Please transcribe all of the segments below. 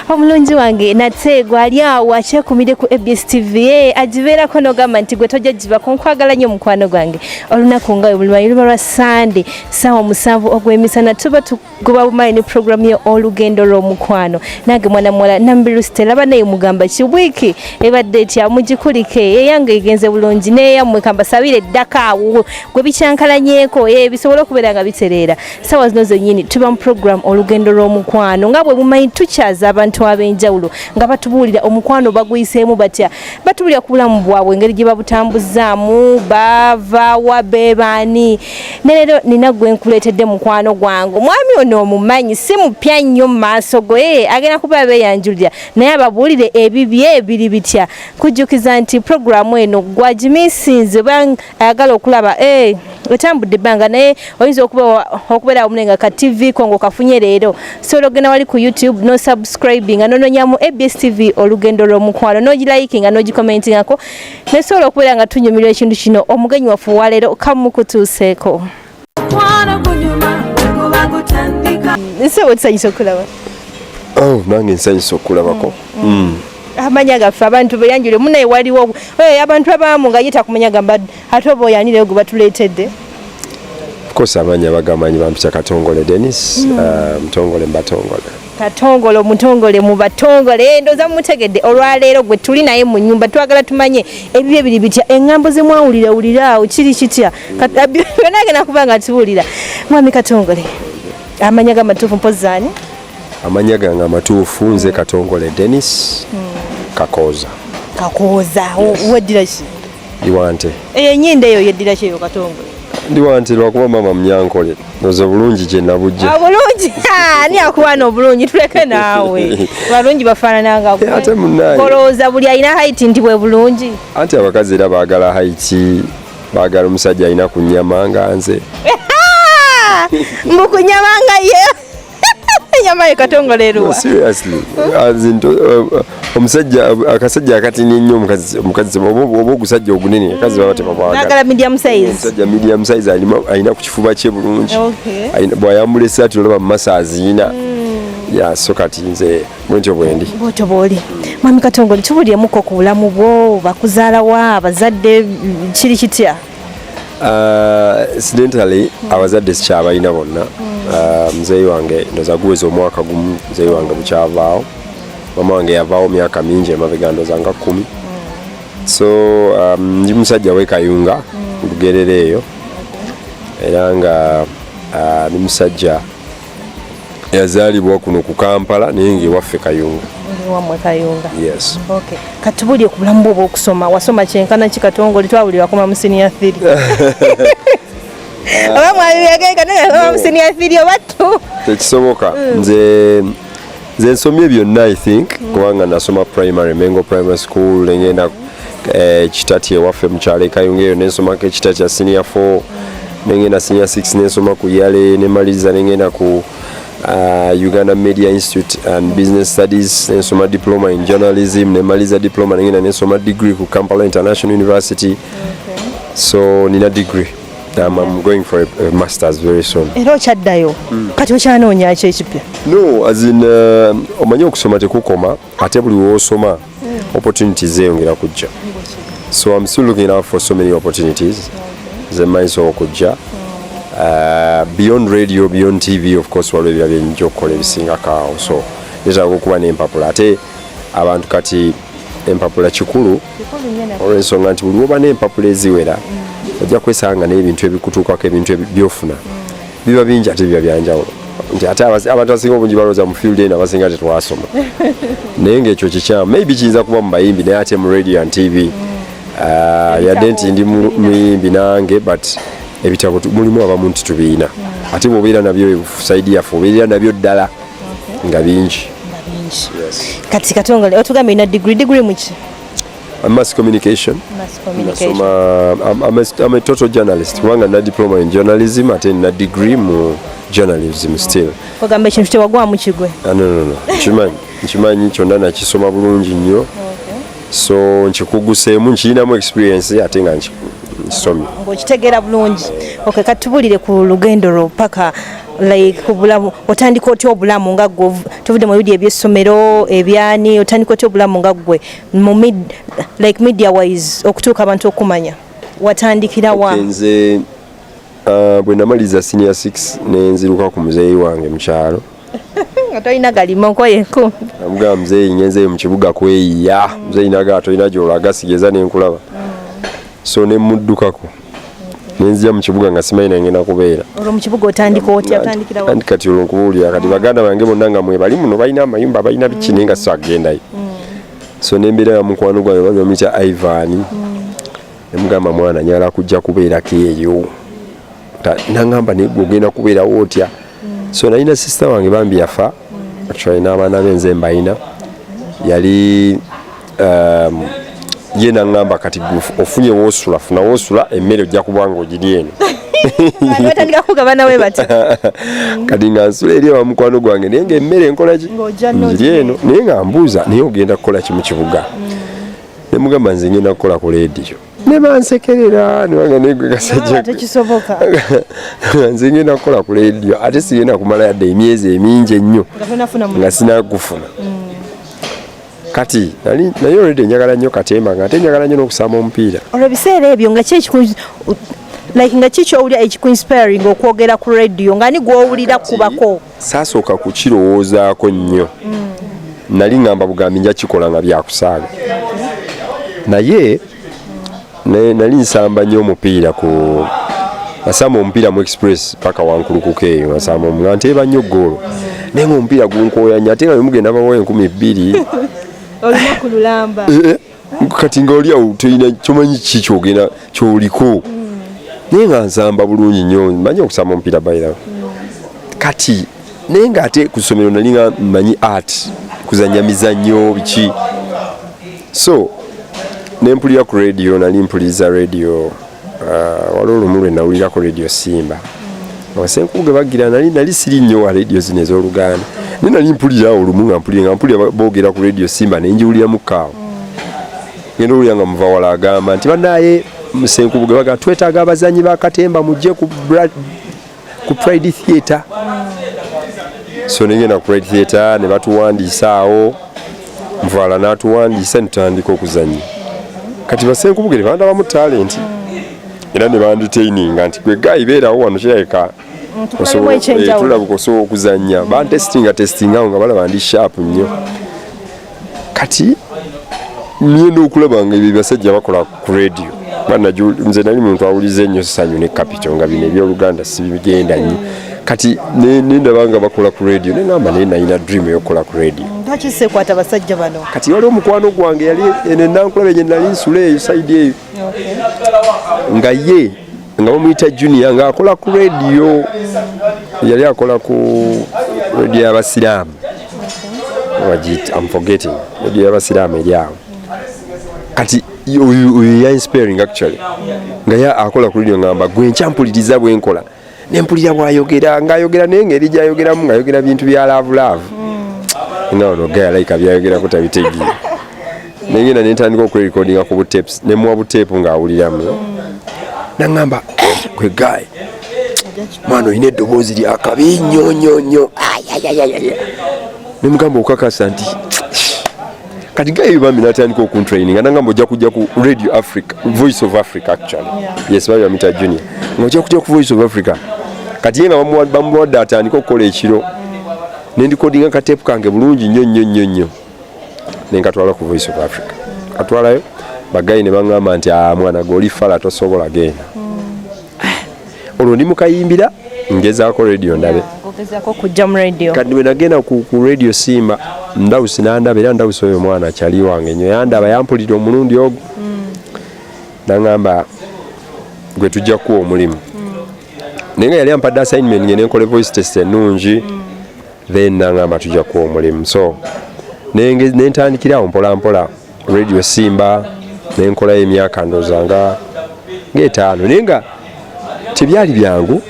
omulungi wange nate gwali awo akyekumire ku abs tv e agibeerako nogamba nti gwe tojja gibako nkwagala nnyo omukwano gwange olunaku nga webulumanyi luba lwa sande saawa omusanvu ogw'emisana tuba tugoba bumanyi ne programu ye olugendo lw'omukwano nange mwana muwala nambiru stela banaye mugamba ki wiiki ebadde etya mugikulike eyange egenze bulungi neyammwe kambasabire eddaka awo gwe bikyankalanyeko e bisobole okubeera nga bitereera sawa zino zenyini tuba mu program olugendo lw'omukwano nga bwe mumanyi tukyaza abantu ab'enjawulo nga batubuulira omukwano baguyiseemu batya batubuulira ku bulamu bwabwe engeri gye babutambuzaamu bavaawa bebaani ne leero nina gwe nkuleetedde mukwano gwange omwami ono omumanyi si mupya nnyo mu maaso go ee agenda kuba beeyanjulira naye ababuulire ebibye biri bitya kujjukiza nti programu eno gwagimisinze ayagala okulaba eh, otambudde ebbanga naye oyinza okubeera wamu nga ka tv kongo kafunye leero sobola ogenda wali ku youtube no subscribinga nononyamu abs tv olugendo lw'omukwano nogilayikinga nogikomentingako naye sobola okubeera nga tunyumirwa ekintu kino omugenyi waffe waleero kamukutuuseeko Oh, nange nsanyusa okukulabako mm. mm. amanya gaffe abantu beyanjule munaye waliwo eh, abantu abamu nga yita kumanya gamba ate oba oyanire gwe batuleetedde kosa amanya bagamanyi bampita katongole denis mm. uh, mutongole mbatongole katongole omutongole mu batongole eh, ndoza mutegedde olwaleero gwe tuli naye mu nyumba twagala tumanye ebibyo biri bitya eŋŋambo ze mwawulira wuliraawo kiri kitya byona agenda kuba nga atubuulira mwami katongole amanya ga matuufu mpozi ani amanya gange amatuufu nze katongole denis hmm. kakooza kakooza weddira ki iwante eyo enyinda eyo yeddira ki eyo katongole ndi wanti lwakuba mama mnyankole oze bulungi gyenabujja obulungi ah, ani akuwaana obulungi tuleke naawe balungi bafaananangaate munaye olowooza buli alina haiti nti bwe bulungi anti abakazi era baagala haiti Baagala omusajja alina ku nyama nga nze. Mbu ku nyama nga ye. Nyama ye katongole eruwa. No, seriously. As in, uh, uh, omusajja uh, akasajja akatini ennyo omukazi omukazi oba ogusajja ogunene akazi baba tebabaagala. Naagala medium size. Omusajja medium size alina ku kifuba kye bulungi. Okay. Bw'ayambula essaati olaba mu maso aziina. Mm. ya so kati nze bwentyo bwendi bwotyo bwoli mwami katongole tubulyemukko ku bulamu bwo bakuzaala wa abazadde kiri kitya uh, incidentally abazadde sikyabalina bonna uh, muzeeyi wange ndoza guweza omwaka gumu muzeeyi wange bukyavaawo mama wange yavaawo myaka mingi emabega ndoza nga kumi so um, ndi musajja wekayunga lugerera eyo era nga uh, ni musajja yazaalibwa kuno ku kampala naye ngaewaffe kayunga wamwe kayunga yes. okay. katubulye ku bulamu bwe obwokusoma wasoma kyenkana ki katongole twabuli wakoma mu siniya thiri oba mwabibegeka naye wakoma mu siniya thiri oba tu tekisoboka mm. nze nze nsomye byonna i think mm. kubanga nasoma primary mengo primary school nengenda eh, kitati ewaffe mukyalo ekayunga eyo nensomako ekitati ya senior 4 nengenda senior 6 nensoma ku yale nemaliriza nengenda ku uh, Uganda Media Institute and Business Studies nsoma diploma in journalism nemaliza diploma nengenda nensoma degree ku Kampala International University okay. so nina degree Um, I'm going for a, a master's very soon. Era okyaddayo mm. kati okyanoonya ki ekipya? No, as in uh, omanyi okusoma tekukoma ate buli w'osoma mm. opportunities zeeyongera kujja. So I'm still looking out for so many opportunities ze mmanyiso okujja. Uh, beyond radio, beyond TV of course waliwo ebirala bye nnyinza okukola ebisingako awo so neetaaga okuba n'empapula ate abantu kati empapula kikulu olwensonga nti buli woba n'empapula eziwera mm. ojja kwesanga naye ebintu ebikutuukako ebintu byofuna mm. biba bingi ate biba byanjawulo nti ate abantu asinga obungi balowooza mu field eno abasinga tetwasoma naye ngaekyo kikyamu maybe kiyinza kuba mu bayimbi naye ate mu radio and tv mm. ah, yadde nti ndi muyimbi nange but ebitabo mulimu abamu nti tubiina ate bwobeera nabyo saidi yaffe obeerera nabyo ddala nga bingi kati katongole otugambye ina degree degree muki mass communication nasoma am a total journalist kubanga na diploma in journalism ate na degree mu journalism still ogamba ekintu tewagwamu kigwe ah, no no no nkimanyi nkimanyi kyonna nakisoma bulungi nnyo so nkikuguseemu nkirinamu experience ate nga nkisomye ng'okitegeera bulungi okay katubulire ku lugendo lwo paka like obulamu otandika otya obulamu nga gwe tuvude mu bidi ebyessomero ebyani otandika otya obulamu nga gwe mu mid like media wise okutuuka abantu okumanya watandikira wa okay, nze uh, bwe namaliza senior 6 nenziruka ku muzeeyi wange mukyalo nga tolina galima nkoye nku amugaa muzeeyi ngenzeeyo mu kibuga kweyiya muzeeyi nagaa tolina gyolaga sigeza nenkulaba mm. so nemuddukako nenzija mu kibuga nga simanyi nangenda kubeera olwo mu kibuga otandika otya otandikira wa anti kati olwo nkubuulira kati baganda bange bonna nga mwe bali muno balina amayumba balina biki naye nga sagendayo mm. so nembeera ya mukwano gwange bali bamuyita ivan mm. nemugamba mwana nyala kujja kubeerako eyo nangamba naye gwe ogenda kubeerawo otya so nalina sister wange bambi yafa actually n'abaana be nze mbalina yali um, ye naŋŋamba kati ofunye woosula funa woosula emmere ojja kuba nga ogiri eno batandika kugaba nawe bati kati nga nsula eri ewa mukwano gwange naye nga emmere nkolaki ngiri eno naye nga mbuuza naye ogenda kukola ki mu kibuga mm. ne mugamba nze ngenda kukola ku leediyo ne bansekerera newanga negwe kasajjatekisoboka nze ngenda kukola ku leediyo ate sigenda kumala yadde emyezi emingi ennyo nga sinakufuna mm. kati nali naye olwedde njagala nnyo katemba nga ate njagala nnyo n'okusama omupiira olwo ebiseera ebyo nga kyekiku like nga kikyowulira ekikuinspiring okwogera ku radio nga ni gwowulira kubako saasooka kukirowoozaako nnyo nali ngamba bugambi nja kikola nga byakusaaga naye nali nsamba nnyo omupiira ku nasamba omupiira mu express paka wankulukuka eyo nasamba nga nteeba nnyo goolo naye nga omupiira gunkooya nnyo ate nga bemugenda bawa enkumi bbiri olunaku lulamba eh, eh. kati nga oli awo tolina kyomanyi kiki kyogenda kyoliko naye nga nsamba bulungi nnyo manyi okusamba omupiira bayira kati naye nga ate ku ssomero nali nga manyi art kuzanya mizannyo biki so nempulira ku radio nali mpuliriza radio Ah, waliwo olumu lwe nawulirako radio simba abasenkuku ge bagira nali nali siri nnyo wa radio zino ez'oluganda naye nali mpulira olumu nga mpulira nga mpulira boogera ku radio simba naye njiwuliramu kaawo genda owulira nga muva wala agamba nti banaye musenkuku ge bagira twetaaga abazanyi ba katemba mujje ku ku pride theatre so nengenda ku pride theatre ne batuwandiisa awo nvaala n'atuwandiisa netutandika okuzannya kati basenkubugere bandabamu talenti era ne banditaininga nti gwe gayi beerawo wano kirabika eh, tulabika osobola okuzannya bantestinga testingawo nga balaba ndi sharp nnyo kati ngenda okulaba nga ebyo basajja bakola ku radio banaju nze nali muntu awulize ennyo sanyu ne capital nga bino ebyoluganda sibigenda nnyo kati nendaba nga bakola ku radio nengamba naye nalina dream eyokukola ku radio akisekwata basajja bano kati wali omukwano gwange yali enenankulaba enye nali nsula eyo saidi eyo nga ye nga bamuyita junior nga akola ku radio yali akola ku radio y'abasiraamu am forgetting radio y'abasiraamu eri awo kati oyo ya inspiring actually nga akola ku radio ngamba gwe nkyampuliriza bwenkola nempulira bwayogera ngaayogera naye ngeri gyayogeramu ngaayogera bintu bya laavu laavu hmm. nga ono gayalaika byayogerako tabitegeera nengenda nentandika okwerekodinga ku butapes nemuwa butepu ng'awuliramu naŋamba eh, gwe gayi mwana olina eddoboozi lyakabi nnyo nnyo nnyo nemugamba okakasa nti kati gayo bambi natandika okuntraininga nangamba ojja kujja ku radio africa voice of africa actually yes babi bamita junior nga ojja kujja ku voice of africa kati ye nga bamuwadde atandika okukola ekiro nendikodinga katepu kange bulungi nnyo nnyo nnyo nnyo nenkatwala ku voice of africa katwalayo bagayi ne baŋŋamba nti ah, mwana gwe oli fala tosobola genda hmm. olwo ndi mukayimbira ngezaako radio ndabe kati bwe nagenda ku radio simba ndawusi nandaba era ndawusi oyo mwana akyali wange nyo yandaba yampulira omulundi ogwo hmm. naŋamba gwe tujja kuwa omulimu hmm. naye nga yali ampadde assignment nge nenkola voice test ennungi then nangamba tuja kuwa omulimu so nentandikira awo mpola mpola radio simba nenkolayo emyaka ndoza nga ngaetaano naye nga tebyali byangu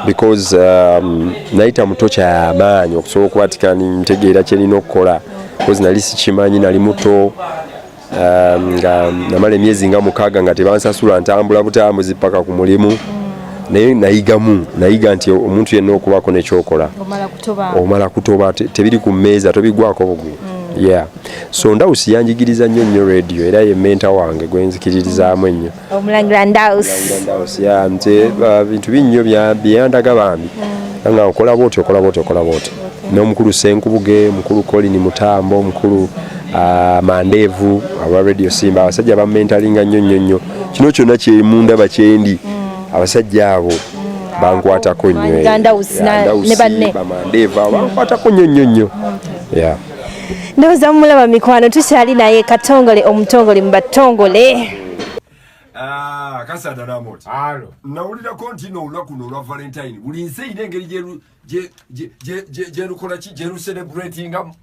because um, nayita muto kyamaanyi okusobola okubatika ntegeera kyerina okukola bcause nali sikimanyi nali muto um, nga namala emyezi nga mukaaga nga tebansasula ntambula butambuzi paka ku mulimu naye nayigamu nayiga nti omuntu yenna okubaako nekyokola omala kutoba tebiri ku mmeeza tobigwako bugwi mm. yeah so ndawusi yanjigiriza nnyo nnyo radio era ye menta wange gwenzikiririzaamu ennyo omulangira ndausiya nze uh, bintu binnyo byeyandaga bambi hmm. nga okola bwoti okola bwoti okola bwoti n'omukulu senkubuge mukulu colin mutambo omukulu uh, mandeevu aba radio simba abasajja bamentalinga nnyo nnyo nnyo kino kyonna kyemundaba kyendi hmm. abasajja abo hmm. bankwatako nnyo eh. bankwatako nnyo nnyo nnyo ndowoza mumulaba mikwano tukyali naye katongole omutongole mubatongole ah, kasada namoti nawulirako nti no olunaku no olwa valentine buli nsi eyina engeri gyerukolaki gyeruserebratingamu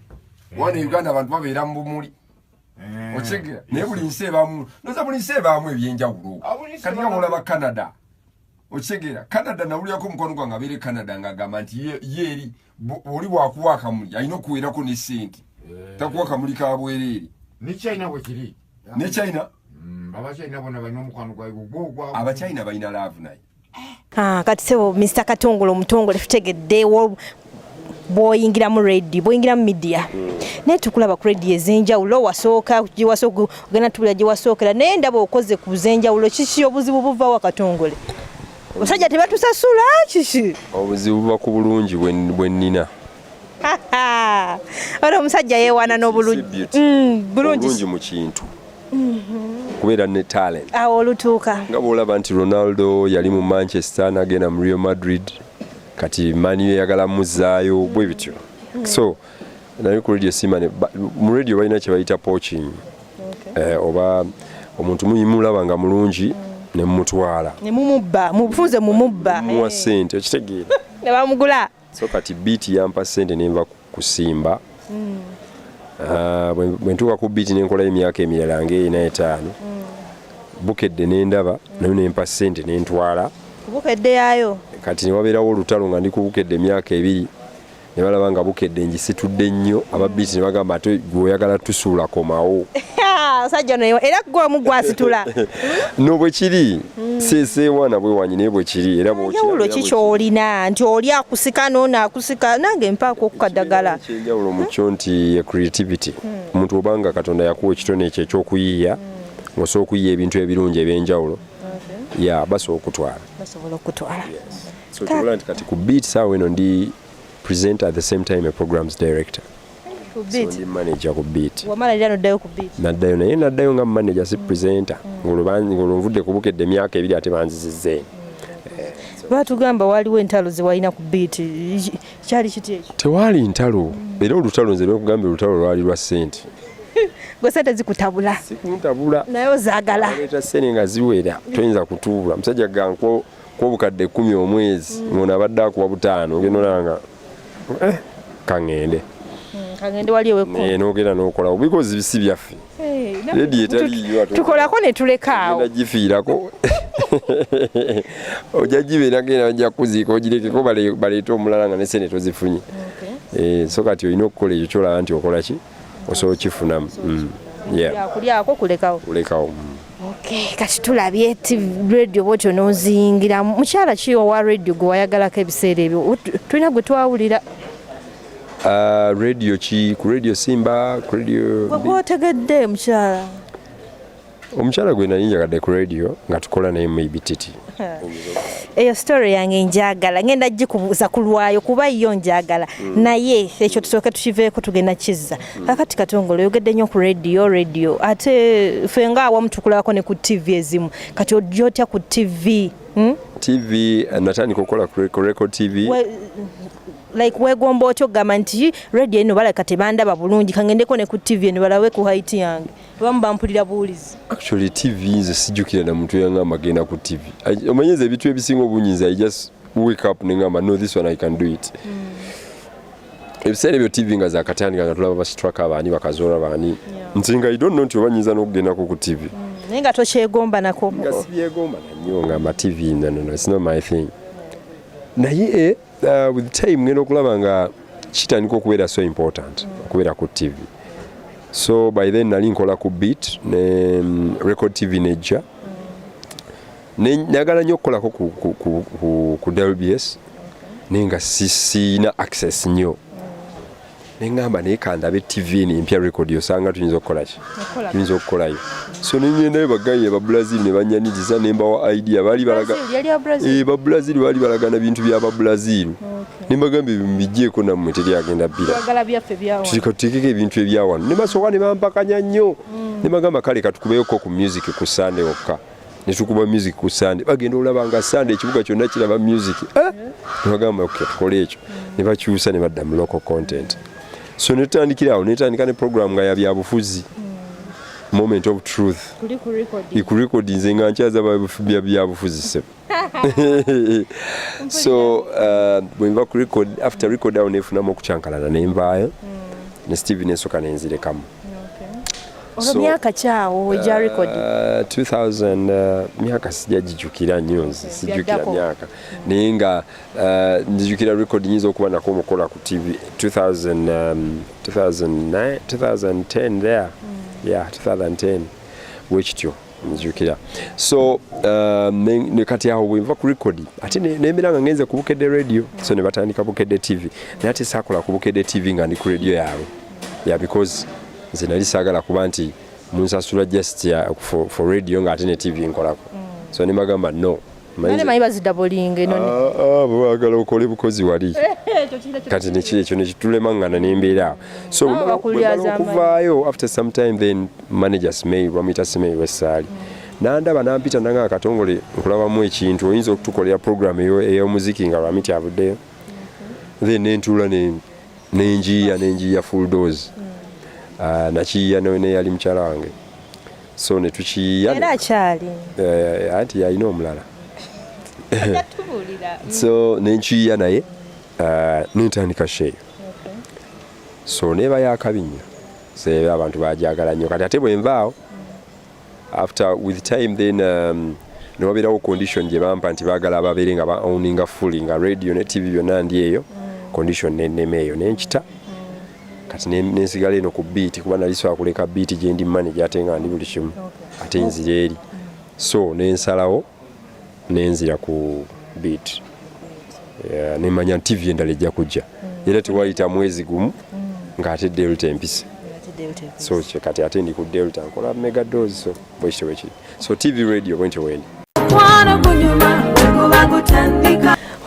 eh. wana uganda abantu babeera mu bumuli eh. okigera naye buli nsi ebamu noza buli nsi ebamu ebyenjawulo ah, katika mulaba canada okigera canada nawulirako omukwano gwange abeere canada nga agamba nti yeeri oli bwakuwa akamuli alina okuweerako ne sente eh. takuwa kamuli ka bwereere ne china bwe kiri ne china mm, abachina bona balina omukwano gwabwe gwogwa abachina balina laavu naye ah, kati sebo mr katongole omutongole tutegedde bwoyingira mu radio bwoyingira mu media mm. naye tukulaba ku radio ezenjawulo wasooka gyewasooka ogenda tubula gyewasookera naye ndaba okoze ku zenjawulo kiki obuzibu buvawo akatongole Musajja tebatusasula kiki? Obuzibu buba ku bulungi bwe nnina. Ora omusajja yeewaana n'obulungi mm, bulungi mu kintu mm-hmm. kubeera ne talent awo olutuuka nga bw'olaba nti ronaldo yali mu manchester n'agenda mu real madrid kati mani eyagala muzzaayo mm-hmm. bwe bityo mm-hmm. so naye ku radio simane mu radio balina kye bayita poaching okay. eh, oba omuntu muyimulaba nga mulungi mm. nemumutwala nemumubba mufunze mumubba muwa eh. sente okitegeera nebamugula so kati biiti yampa sente nenva kusimba mm. ah, bwentuuka ku biiti nenkola emyaka emirala nga erina etaano mm. bukedde nendaba mm. nayo nempa sente nentwala bukedde yayo kati newabeerawo olutalo nga ndi kubukedde emyaka ebiri ne balaba nga bukedde ngisitudde nnyo ababiiti ne bagamba ate gwe oyagala tusuula komawo sajja noyo era gwe omu gwasitula no bwe kiri hmm. seseewana bwe wanyi naye bwe kiri era bwekiyawulo ki kyolina nti oli akusika noono akusika nange mpaako okukadagala kyenjawulo mu kyo nti ye creativity hmm. omuntu obanga katonda yakuwa ekitone ekyo ekyokuyiiya hmm. osobola okuyiya ebintu ebirungi ebyenjawulo ya basobola okutwala basobola okutwala So kyobola nti kati ku beat saawa eno ndi presenter at the same time a programs director ndi manager ku beat wamalalira noddayo ku beat naddayo naye naddayo nga manager si presenter mm. ng'olwo nvudde kubukedde emyaka ebiri ate banzizizza eno lwatugamba waliwo entalo zewalina ku biiti kyali kiti ekyo tewaali ntalo era olutalo nze nekugambye olutalo lwali lwa sente gwe sente zikutabula sikuntabula naye ozagala leeta sente nga ziwera toyinza kutuula musajja ganko kwobukadde ekumi omwezi mm. ngono abadde akuwa butaano ogenda olaba nga eh, kaŋŋende mm, nogenda nokola bikozi bisi byaffe redi etaliyo tukolako netulekaawo gifiirako ojja gibeera genda bajja kukuziika ogirekeko baleete omulala nga nesente tozifunye eh, so kati olina okukola ekyo kyolaba nti okola ki osobola okifunamu mm, kulekao Okay, kati tulabye ti radio bwotyo noziyingira mukyala ki owa radio gwe wayagalako ebiseera ebyo tulina gwe twawulira Uh, radio ki ku radio simba ku radio gwotegedde mukyala omukyala gwe nali njagadde ku radio nga tukola naye mu ibititi eyo story yange njagala ngenda gikubuuza ku lwayo kuba yo njagala mm. naye ekyo tusooke tukiveeko tugenda kizza mm. kakati katongole oyogedde nnyo ku radio radio ate fe nga awamu tukulabako ne ku tv ezimu kati ojja otya ku tv hmm? tv eh, natandika okukola ku record tv We, like wegomba otya okugamba nti radio eno balaka tebandaba bulungi kangendeko ne ku tv eno balawe ku haiti yange abamu bampulira buwulizi actually tv nze sijjukira na muntu yangamba agenda ku tv omanyi nze ebintu ebisinga obungi nze i just wake up ne ngamba no this one i can do it mm. ebiseera ebyo tv nga zakatandika nga tulaba bastraka abaani bakazoora baani yeah. nti nga i don't know nti oba nyinza n'okugendako ku tv mm. naye nga tokyegomba nako nga sibyegomba nanyo ngamba tv nanono it's not my thing naye eh, Uh, with time ngenda okulaba nga kitandika okubeera so important okubeera ku TV so by then nali nkola ku beat ne um, record TV nejja nagala nyo okukolako ku, ku, ku, ku, ku WBS naye nga sisina access nyo nengamba naye kandabe tv ni mpya record osanga tuyinza okukola ki tuyinza okukolayo so nenyendayo bagayi aba brazil ne banyaniriza nemba wa idea bali balaga eh ba brazil bali balaga na bintu bya ba brazil nembagambe bibijeeko namwe teri agenda bila tulikatikeko ebintu ebyawantu ne basoka ne bampakanya nnyo mm. nemagamba kale katukubeyo ko ku music ku sande okka ne tukuba music ku sande bagenda olaba nga sande ekibuga kyonna kiraba music eh? nebagamba okay, tukola ekyo ne bakyusa ne badda mu local content so ne tutandikira awo netandika ne program nga yabyabufuzi moment of truth ikurekodi nze nga nkyaza byabufuzi sebo so uh, bwenva ku record after record awo nefunamu okukyankalana nenvaayo mm. ne steve nesoka nenzirekamu olwo myaka kyawo gya uh, record 2000 uh, myaka sijajijukira nnyo nze sijukira myaka naye nga uh, njijukira record nyinza okuba nako omukola ku tv 2009 2010 um, there mm. yeah 2010 wekityo nzijukira so uh, ne kati awo bwenva ku record ate nemera nga ngenze ku bukedde radio so ne batandika bukedde tv naye ate saakola ku bukedde tv nga ndi ku radio yaabwe ya because nze nali saagala kuba nti munsasula just uh, for, for radio nga ate ne tv nkolako mm. so ne bagamba no Nane manyi bazida bolinga eno ne. Ah, ah bwagala okole bukozi wali. Kati ne kile kyo ne kitulema ngana ne mbera. So ah, okuvaayo after some time then managers may wamita sime wesali. Nandaba nampita nanga akatongole nkulaba mu ekintu oyinza okutukolera program eyo eyo muziki nga wamita abude. Then nentula ne nenjiya nenjiya full dose. Mm. Ah, nakiya ne yali mchala wange. so ne tukiyiya era akyali eh, anti yalina omulala so nenkiyiya naye eh, nentandika sheeyo so neeba yakabi nnyo seeba abantu bajagala nnyo kati ate bwenvaawo after with time then um, newabeerawo condition gye bampa nti baagala ababeere nga baowninga fully nga radio ne tv byonna ndi eyo mm. condition nenema eyo nenkita kati nensigala eno ku biiti kuba nali sobola kuleka biiti gyendi manaje ate nga ndi buli kimu ate nzira eri so nensalawo nenzira ku biiti nemanya nti tivi endala ejja kujja mm. era tewayita mwezi gumu mm. ng'ate delta empisa so kati ate ndi ku delta nkola mega dozi so bwekityo bwekiri so tv radio bwentyo bweli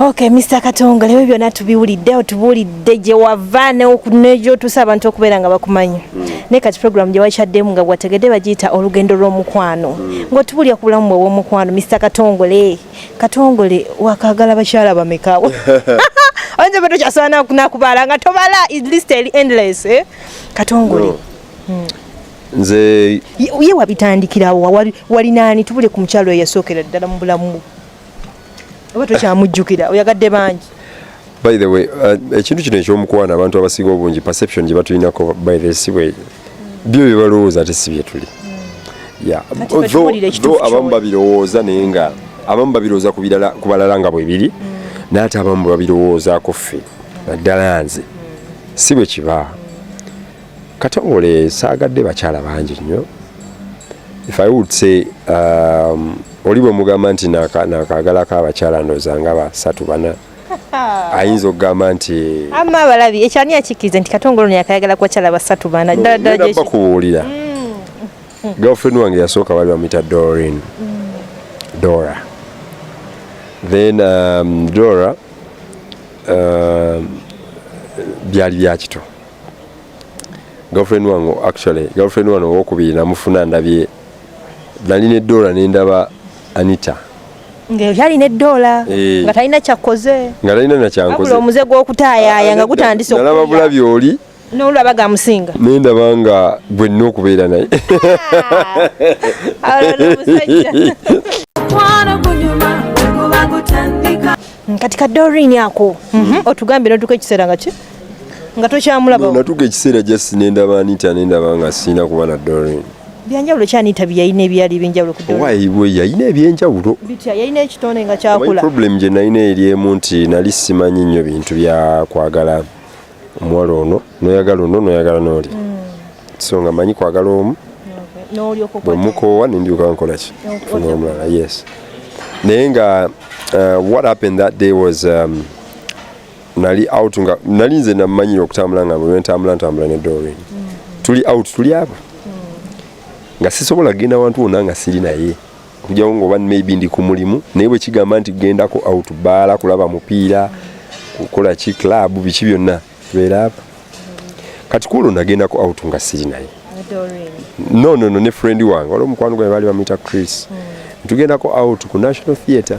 Okay, Mr. Katonga lewe byona tubiwulidde otubuulidde gye wava nejotusa abantu okubeera nga bakumanyi mm. naye kati program gye wakyaddemu nga gwategedde bagiyita olugendo lw'omukwano mm. ng'otubuulira ku bulamu bwew'omukwano Mr. Katongole Katongole wakagala bakyala bamekawo oyinza oba tokyasobola nakubala nga tobala is list endless eh? Katongole no. mm. nze ye wabitandikirawo wali naani tubule ku mukyalo eyasookera ddala mu bulamu oba tokyamujjukira oyagadde bangi by the way uh, ekintu kino ekyomukwano abantu abasinga obungi perception gye batulinako by the si bwe byo bye balowooza ate si bye tuli tho abamu babirowooza naye nga abamu babirowooza ku balala nga bwe biri mm. naye ate abamu babirowoozaako ffe naddala nze si bwe kibaa Katongole saagadde bakyala bangi nnyo if i would say um, oli bwe mugamba nti nakaagalako abakyala ndooza nga basatu bana ayinza okugamba nti ama abalabi ekyani akikkirize nti katongole ono yakayagala ku bakyala basatu bana ddala ddala gye bakubuulira mm. girlfriend wange yasooka bali bamuyita dorin mm. dora then um, dora um, byali byakito girlfriend wange actually girlfriend wange owokubiri namufuna ndabye nali ne dola nendaba anita ngeyali ne dola eh. nga talina kyakoze nga talina nakyankoze omuze gwokutayaya nga gutandise nalaba bulabi oli nolaba gamusinga nendaba nga gwenna okubeera naye kati ka dorini ako mhm. otugambye notuka ekiseera nga ki nga tokyamulaba natuka ekiseera just nendaba anita nendaba nga sirina kuba na dorin byanjawulo ki anita byeyalina ebyali ebyenjawulo yalina ebyenjawulo bitya yalina ekitonde nga kyakula problem gye nalina eri emu nti nali simanyi nnyo bintu byakwagala omuwala ono noyagala ono noyagala nooli mm. so nga manyi kwagala omu bwemukoowa nendyoka nkolaki funa omulala yes naye nga uh, what happened that day was um, nali out nga nali nze namanyira okutambula nga bwe ntambula ntambula ne Doreen mm-hmm. tuli out tuli aba mm. nga sisobola genda wantu wona nga siri naye okujawo nga oba maybe ndi ku mulimu naye bwe kigamba nti gendako out baala kulaba mupiira kukola ki club biki byonna tubeera aba kati kuolwo nagendako out nga siri naye no no no ne friend wange waliwo omukwano gwange baali bamuyita Chris mm. tugendako out ku National Theatre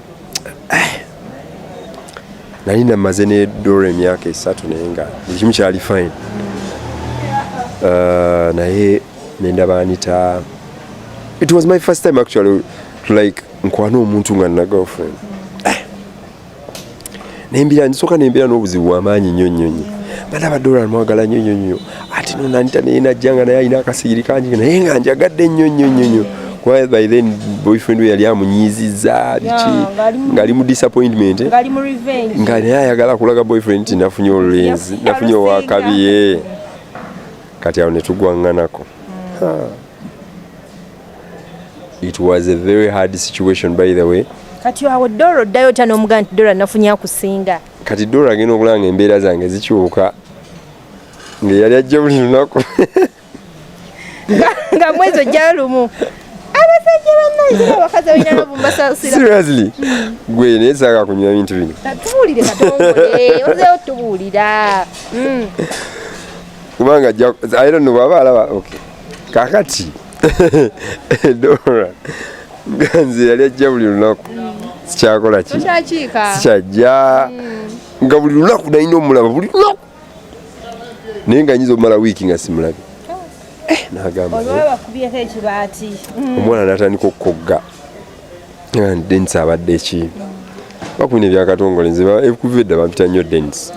nali namaze ne dora emyaka esatu naye nga buli kimu kyali fine uh, naye nendaba anita it was my first time actually like nkwana omuntu nga nina girlfriend nembira nsoka nembira n'obuzibu bwamaanyi nnyo nnyo nnyo bana badola mwagala nnyo nnyo nnyo ate nonanita naye najja nga naye alina akasigiri kangi naye nga njagadde nnyo nnyo nnyo nnyo kuba by then boyfriend we yali amunyiizizza biki ng'ali mu disappointment nga naye ayagala kulaga boyfriend nti nafunye olulenzi nafunye owakabiye kati awo netugwaŋŋanako hmm. It was a very hard situation by the way. Kati awo Dora oddayo otya n'omugamba nti Dora nafunye akusinga? Kati Dora agenda okulanga embeera zange zikyuka nga yali ajja buli lunaku nga mwezi ojja lumu abasajja bannange abakazi balina lavu mbasasira seriously gwe naye saaka kunywa bintu bino tubuulire katongole ozeewo tubuulira hmm. kubanga i don't know bwaba alaba okay kakati dora ganzi yali ajja buli lunaku sikyakola ki sikyajja mm. nga buli lunaku nalina omulaba buli lunaku naye nga nyinza omala wiiki nga simulabe eh, nagamba eh. omwana natandika okukogga Dennis abadde ki bakubina ebyakatongole nze ekuva edda bampita nnyo Dennis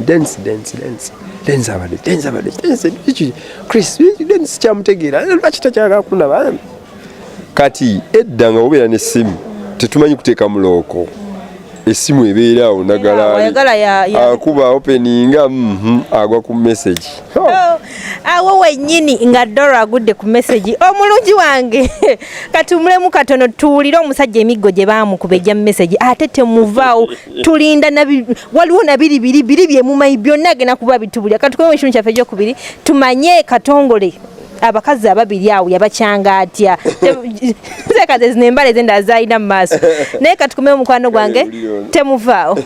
Dennis Dennis Dennis Dennis abadde Dennis abadde Dennis ki Chris Dennis kyamutegeera lwaki takyagala kunaba kati edda nga obeera n'essimu tetumanyi kuteeka mulooko essimu ebeera awo ndagalakuba openinga mhm, agwa ku message oh, awo wenyini nga dora agudde ku message omulungi wange katumulemu katono tuwulire omusajja emiggo gye baamukuba egya message ate temuvaawo tulinda waliwo nabiri biri biri byemumanyi byonna agenda kuba bitubulira katukoe mu kimu kyaffe ekyokubiri tumanye katongole abakazi ababiri awo yabakyanga atya zekaze zino embala eze ndala zalina mu maaso naye katukume omukwano gwange temuvaawo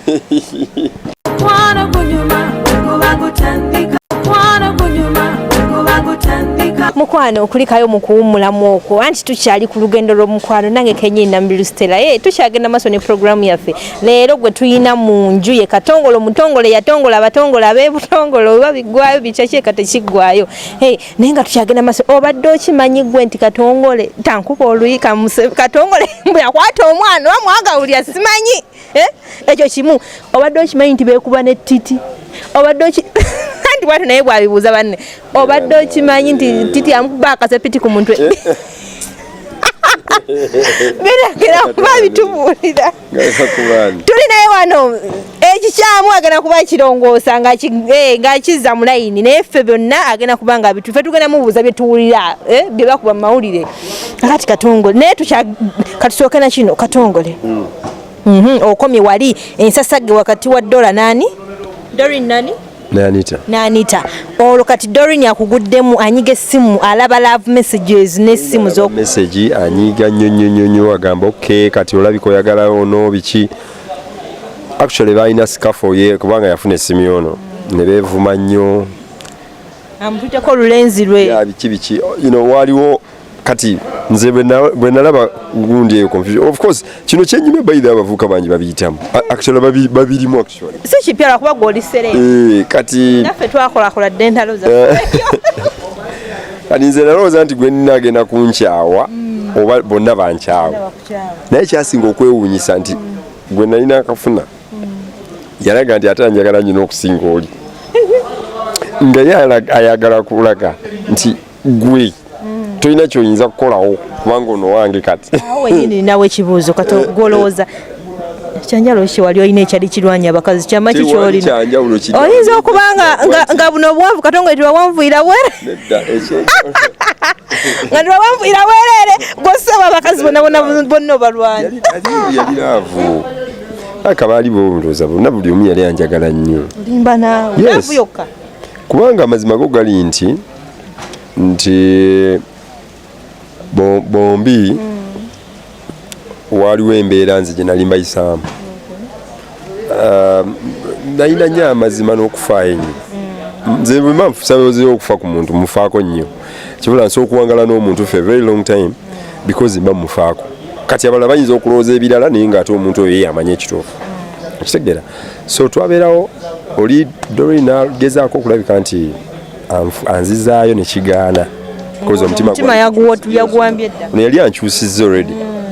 mukwano okulikayo mu kuwummulamu okwo anti tukyali ku lugendo lw'omukwano nange kenyini nambiru stela ye eh, tukyagenda maaso ne puroguramu yaffe leero gwe tulina mu nju ye katongole omutongole yatongola abatongole ab'ebutongole oba biggwayo bikyaki eka tekiggwayo Hey, naye nga tukyagenda maso obadde okimanyi gwe nti katongole tankuba oluyi katongole mbu yakwata omwana oba mwagawulira simanyi eh? ekyo kimu obadde okimanyi nti bekuba ne titi obadde oki nti bwati naye bwabibuuza banne obadde okimanyi nti titi amukuba akasepiti ku mutwe eh? biragera kuba bitubuulira tuli naye wano ekikyamu eh, agenda kuba kirongoosa eh, ng'akizza mu layini naye ffe byonna agenda kuba nga bitu ffe tugenda mubuuza bye tuwulira eh, bye bakuba mu mawulire kati katongole naye katusooke na kino katongole hmm. mhm, okomye wali ensasage wakati wa dola nani dorin nani nanita nanita olwo kati dorin akuguddemu anyiga essimu alaba love messages n'essimu zo message anyiga nnyo nnyo nnyo nnyo agamba ok kati olabika oyagala ono biki actually balina scafo ye kubanga yafuna essimu yono ne beevuma nnyo amututeko olulenzi lwe biki biki you know waliwo kati nze bwe nalaba gundi eyo confusion of course kino kyenyume baidha abavuka bangi babiyitamu actually babirimu actually si kipya lwakuba gwoli sere eh, kati naffe twakolakola dde entalo za eh. kati nze nalowooza nti gwe nagenda kunkyawa mm. oba bonna bankyawa naye kyasinga okwewuunyisa nti mm. gwe nalina akafuna mm. yalaga nti ate anjagala nyina okusinga oli nga ye ayagala kulaga nti gwe mm. tolina kyoyinza kukolawo kubanga ono wange kati wenyini nawe ekibuuzo kati eh, gwolowooza eh. kyanjalo ki wali olina ekyali kirwanya abakazi kyama ki kyolina oyinza okuba nga buno obwanvu katonga eti wawanvuira were nga ti wawanvuira werere gwosaba abakazi bonna obalwanya aka baali bobuloza bonna buli omu yali anjagala nnyo limba naawe yokka kubanga amazima go gali nti nti bombi waaliwo embeera nze gye nali mbayisaamu nalina nyo amazima n'okufaayo enyo nze bwemba nfusaozi okufa ku muntu mufaako nnyo kibula nsi okuwangala n'omuntu fe very long time because mba mufaako kati abalala bayinza okulowooza ebirala naye nga ate omuntu oyo yeyamanya ekituufu okitegera so twabeerawo oli dorina gezaako okulabika nti anzizaayo ne kigaana koza omutima omutima yaguwa yaguwambye dda ne yali ankyusizza already mm.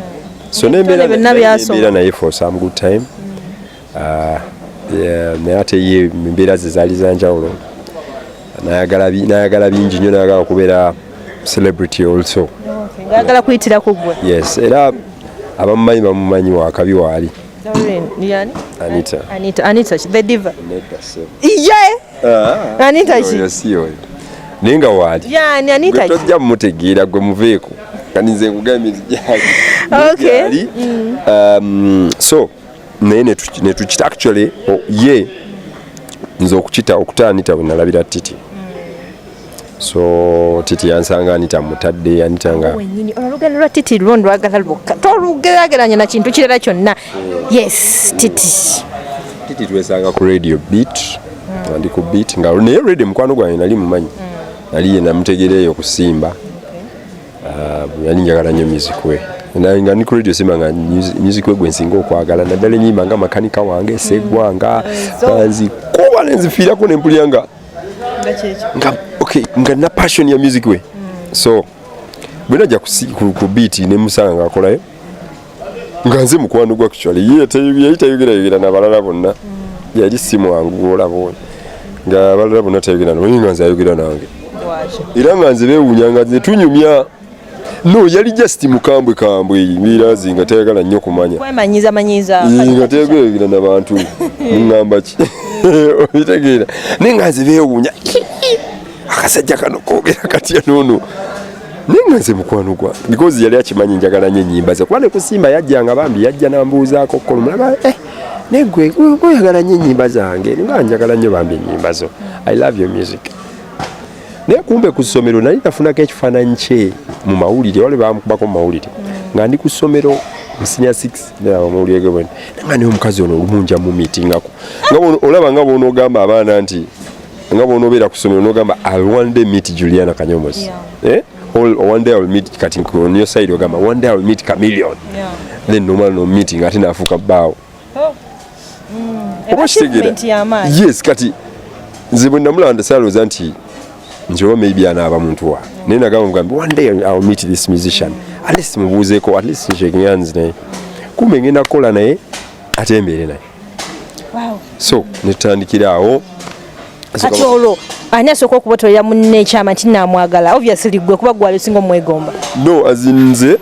so ne mbera na byasoma mbera naye for some good time mm. ah yeah me ate ye mbera ze zali zanjawulo nayagala bi nayagala bingi nyo nayagala kubera celebrity also oh, ngagala kuyitira ku gwe yes era abamumanyi bamumanyi wakabi waali Doreen, yani? Anita. Anita, Anita, the diva. Neda sebo. Iye! Ah, Anita chi? Oyo si oyo. Naye nga waali. Yani, Anita chi? Gwe tojja mutegeera gwe muveeko. Kati nze nkugambye nti gyali. Okay. Mm. Um, so, naye netukita actually oh, ye nze okukita okuta Anita bwe nalabira Titi. so titi yansanga anita mutadde anita nga wenyini olugendo lwa titi lwo ndwagala lwokka tolugerageranya na kintu kirala kyonna yes titi titi twesanga ku radio beat mm. ndi ku beat nga naye radio mukwano gwange nali mumanyi mm. nali ye namutegera eyo kusimba ah, yali njagala nnyo music we nga ni ku radio simba nga music we gwensinga okwagala naddala enyimba nga makanika wange segwanga mm. eh, banzikuba nenzifiirako nempulira nga nga okay nga na passion ya music we mm. so bwena ja ku beat ne musanga ngakolayo nga nze mukwano gwa actually ye yali tayogera yogera na balala bonna mm. yali si mwangu olaba oyo nga balala bonna tayogera nabo nga nze ayogera nange era nga nze bewunya nga nze tunyumya no yali just mukambwe kambwe mirazi nga tayagala nnyo kumanya kwemanyiza manyiza nga teyageragera na bantu mungamba ki obitegeera naye nga nze beewuunya akasajja kano kogera katya noono naye nga nze mukwano gwa because yali akimanyi njagala nyo enyimba ze kuba nekusimba yajja nga bambi yajja nambuuzaako okukola omulaba eh, naye gwe oyagala nyo enyimba zange nga njagala nyo bambi enyimba zo i love your music naye kumbe ku ssomero nali nafunako ekifaananyi kye mu mawulire wali bamukubako mu mawulire nga ndi ku ssomero musinia 6 namawulire ge bwene nga naye omukazi ono olumunja mu mitingako nga olaba nga bwonoogamba abaana nti nga bwonoobeera ku ssomero nogamba i one day meet juliana kanyomos yeah. eh? all one day I will meet kati on your side ogamba one day I will meet chameleon yeah. then nomala no meeting ate nafuka baawo oh. mm. oba kitegera yes kati nze bwe namulanda salooza nti nti oba maybe anaaba muntu wa naye nagamba mugambe one day ill meet this musician at least mubuuzeeko at least nshaking hands naye kumbe ngenda kukola naye ate embeere naye so netutandikira awo kati olwo ani asooka okubotolera munne ekyama nti namwagala obviously gwe kuba gwali osinga omwegomba no azinze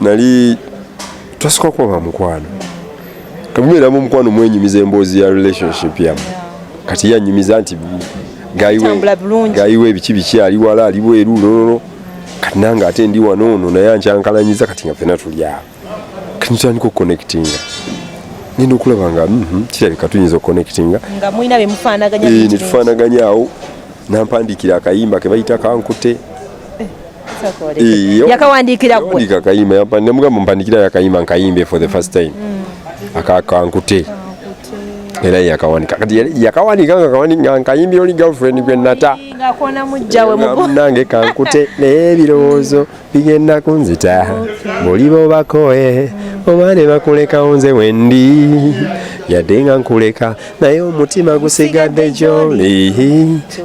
nali twasooka okuba ba mukwano temubeeramu omukwano mwenyumiza emboozi ya relationship yamu kati yanyumiza nti gayiwa ebiki biki ali wala ali bweru nonono kati nange ate ndi wano ono naye ankyankalanyiza kati nga fena tuli awo kati nitandika okuconnectinga ngenda okulaba nga mhm, kirabika tuyinza okuconnectinga eh, netufaanaganya awo nampandiikira akayimba kebayita kankute yakawandiikira gwe akayimba yampa ne mugamba mpandikira yakayimba nkayimbe for the first time mm. akakankute era yakawandika kati yakawandika nga kawandika nkayimbi oli girlfriend gwe nata nange kankute naye ebirowoozo bigenda kunzita buli bobakoe oba ne bakulekawo nze wendi yadde nga nkuleka naye omutima gusigadde gyoli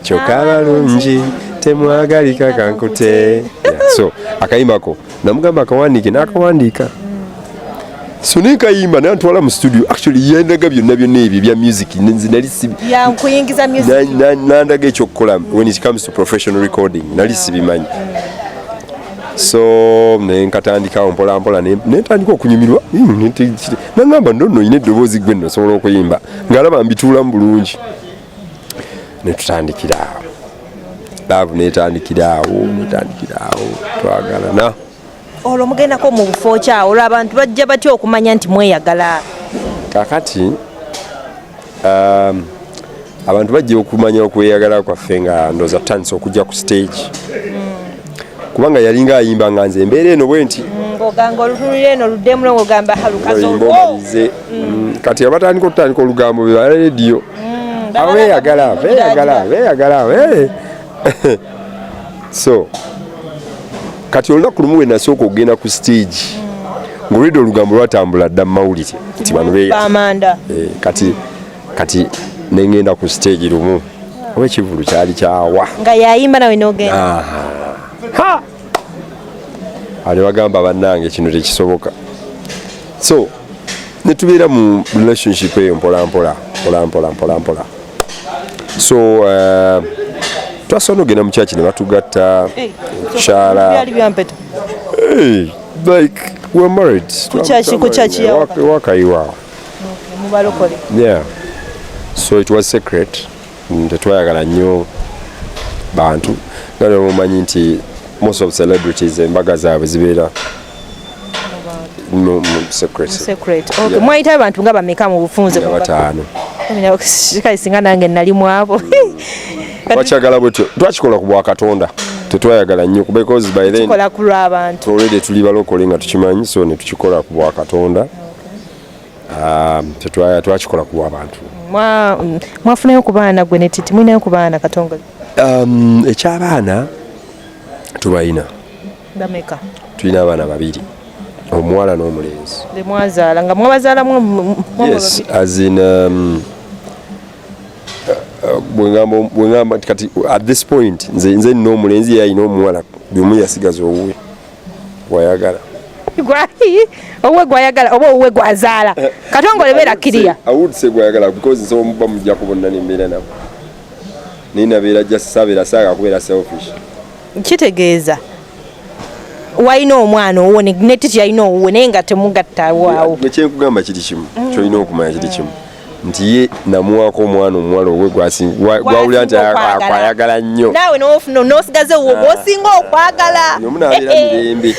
kyokka balungi temwagalika kankute so akayimako namugamba akawandiike n'akawandiika so naye kayimba naye antwala mu studio actually yandaga byonna byonna ebyo ebya music nali nandaga ekyokukola when it comes to professional recording nali sibimanyi so nenkatandikawo mpolampola nentandika okunyumirwa hmm, nangamba nonno olina eddoboozi gwe nno osobola okuyimba ngaalaba mbituulamu bulungi netutandikira awo laavu netandikira awo netandikira awo twagalana olwo mugendako mu bufo kyawo olwo abantu bajja batya okumanya nti mweyagala kakati um, abantu bajja okumanya okweyagala kwaffe nga ndoza tutandise okujja ku stage kubanga yalinga ayimba nga nze embeera eno bwe nti mm, kati abatandika okutandika olugambo bebala rediyo mm, abo beyagala beyagala beyagala eh. so kati olunaku lumu we nasooka okugenda ku stage mm. ngaolwedde olugambo lwatambula dda mu mawulire nti bano beya eh, kati kati nengenda ku stage lumu oba ekivulu kyali kyawa nga yayimba nawe nogenda ali bagamba bannange kino tekisoboka so netubeera mu relationship eyo mpolampola mpolampola mpolampola so uh, twasobola nogenda mu kyaki ne batugatta kyala like we're married wakayiwaawo yeah so it was secret tetwayagala nnyo bantu nga nemumanyi nti most of celebrities embaga zaabwe zibeera mwayitayo abantu nga bameka mu bufunze bataano kale singa nange nali mwabo hmm. wakyagala bwetyo twakikola ku bwakatonda tetwayagala nnyo because by then tuli balokole nga tukimanyi so netukikola ku bwakatonda um, twakikola kuwa abantu mm, mwafunayo ku baana gwe netiti mulinayo ku baana katongozi um, ekyabaana tubalina bameka tulina abaana babiri omuwala n'omulenzi bemwazaala nga mwabazaalamu yes as in um, bwengamba kati at this point nze nina omulenzi yalina omuwala byomu yasigaza owuwe gwayagala owuwe gwayagala oba owuwe gwazaala eh, katongole beera kiriya awudse gwayagala because nsobola muba mujja kubonna nembeera nabo naye nabeera just sabeera saaga kubeera selfish kitegeeza walina omwana owo netiti yalina owuwe naye nga temugatta waawo kyenkugamba kiri kimu kyolina okumanya kiri kimu nti ye namuwaako omwana omuwala owe gwawulira nti akwayagala nnyo naawe nosigaze wo ah. gwosinga okwagala omunabeera eh, eh. mirembe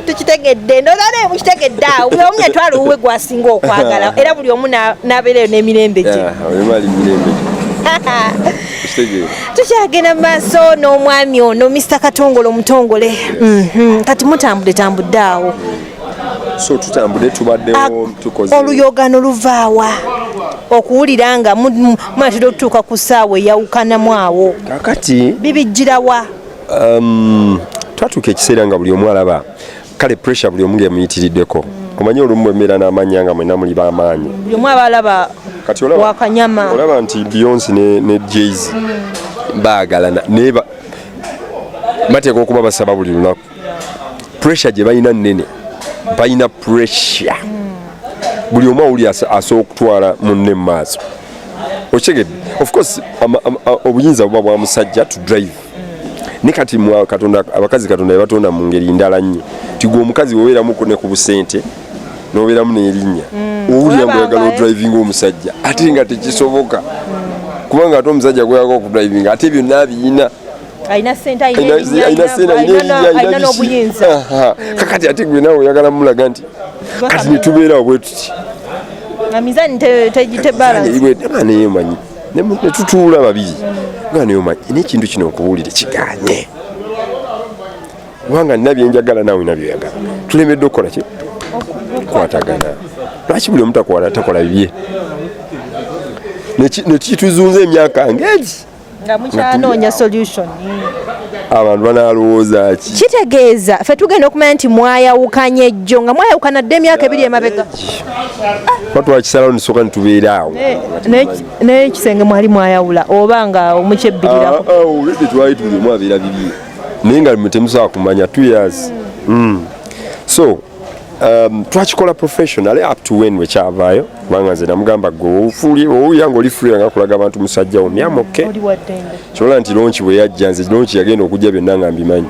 tukitegedde ndozane mukitegedde awo buli omu yatwala owuwe gwasinga okwagala era buli omu nabeereyo n'emirembe gye ah, tukyagenda mu maaso n'omwami ono mr katongole omutongole mhm. kati mutambudetambudde awo so tutambudde tubaddewo tukoze oluyogano luvaawa okuwulira nga mwatera okutuuka ku ssaawa eyawukanamu awo kakati bibijjirawa um, twatuuka ekiseera nga buli omu alaba kale pressure buli omu ngemuyitiriddeko mm. omanyi olumu bwembeera n'amanya nga mwena muli bamaanyi buli omu aba alaba kati wakanyama olaba nti beyonce ne, ne jayz mm. baagalana naye bateeka okuba basaba buli lunaku pressure gye balina nnene balina pressure buli omu awuli asobola okutwala munne mu maaso okitegedde of course obuyinza buba bwa musajja to drive ne kati katonda abakazi katonda yabatonda mu ngeri ndala nnyo tigwe omukazi wobeeramu ne ku busente nobeeramu n'erinnya mm. owulira mbu oyagala odrivinga omusajja ate nga tekisoboka kubanga ate omusajja gweyaga okudrivinga ate byonna abiyina alina sente alina n'obuyinza kakati ate gwe nawe oyagala mulaga nti kati netubeerawo bwe tuti amizani tebalanaye manyi netutuula babiri nga naye omanyi nekintu kino nkubuulire kiganye kubanga nina byenjagala nawe na byoyagala tulemedde okukola ki kwatagana lwaki buli omutakwala takola bibye nekituzunza emyaka ngegi nga mukyanoonya solution abantu banalowooza ki kitegeeza fe tugenda okumanya nti mwayawukanye ejjo nga mwayawukana dde emyaka ebiri emabega batwakisalawo nisoka nitubeera awo naye ekisenge mwali mwayawula oba nga omukyebbirirako ah, ah, twali tulimu abeera bibye naye nga temusobola kumanya two years mm. so Um, twakikola professionally up to when wekyavaayo kubanga nze namugamba gweowulira nga oli free nga kulaga abantu musajja wo myamoke kyobola nti lonki bwe yajja nze lonki yagenda okujja byonna nga mbimanyi